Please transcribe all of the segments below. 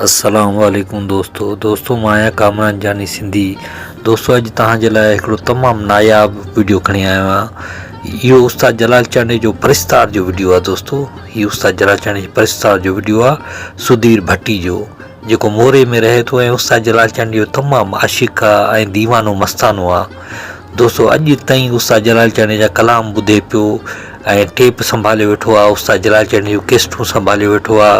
السلام عليڪم دوستو دوستو مان آهيان ڪامران جاني سنڌي دوستو اڄ توهان جي لاء هڪڙو تمام ناياب ويڊيو کڻي آيو آهيان اهو استاد جلال چانڊي جو پرستار جو ويڊيو آهي دوستو هي استاد جلال چانڊي جي پرستار جو ويڊيو آهي سڌير ڀٽي جو جيڪو موري ۾ رهي ٿو ۽ استاد جلال چنڊ جو تمام عاشق آ ۽ ديوانو مستانو آ دوستو اڄ تائين استاد جلال چنڊ جا ڪلام ٻڌي پيو ۽ ٽيپ سنڀاليو ويٺو آ استاد جلال چنڊ جون ڪيسٽون سنڀاليو ويٺو آ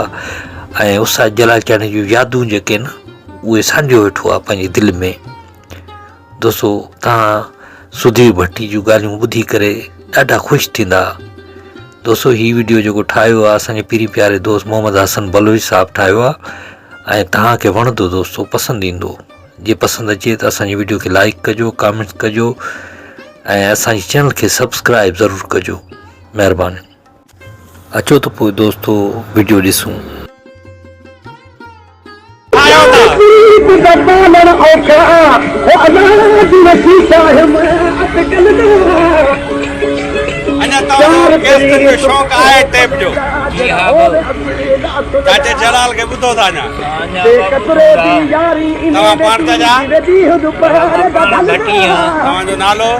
۽ استاد جلال چنڊ جون يادون جيڪي ان اهي سانڍيو ويٺو آ پنهنجي دل ۾ دوستو توهان سڌير ڀٽي جون ڳالهيون ٻڌي ڪري ڏاڍا خوش ٿيندا دوستو هي ويڊيو جيڪو ٺاهيو آهي اسانجي پيري پياري دوست محمد حسن بلوچ صاحب ٺاهيو آهي ۽ توهان کي وڻندو دوستو پسند ايندو جي پسند اچي ته اسانجي ويڊيو کي لائڪ ڪجو ڪامينٽ ڪجو ۽ اسانجي چينل کي سبسڪرائب ضرور ڪجو مهرباني اچو ته پوء دوستو وڊيو ڏسون.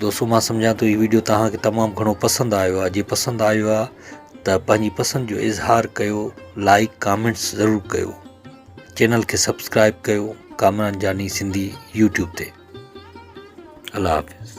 دوستو مان سمجهان ٿو هي وڊيو توهان کي تمام گهڻو پسند آيو آهي جي پسند آيو آهي ته پنهنجي پسند جو اظهار ڪيو لائڪ ڪامينٽس ضرور ڪيو چينل کي سبسڪرائب ڪيو ڪامران جاني سنڌي يوٽيوب تي الله حافظ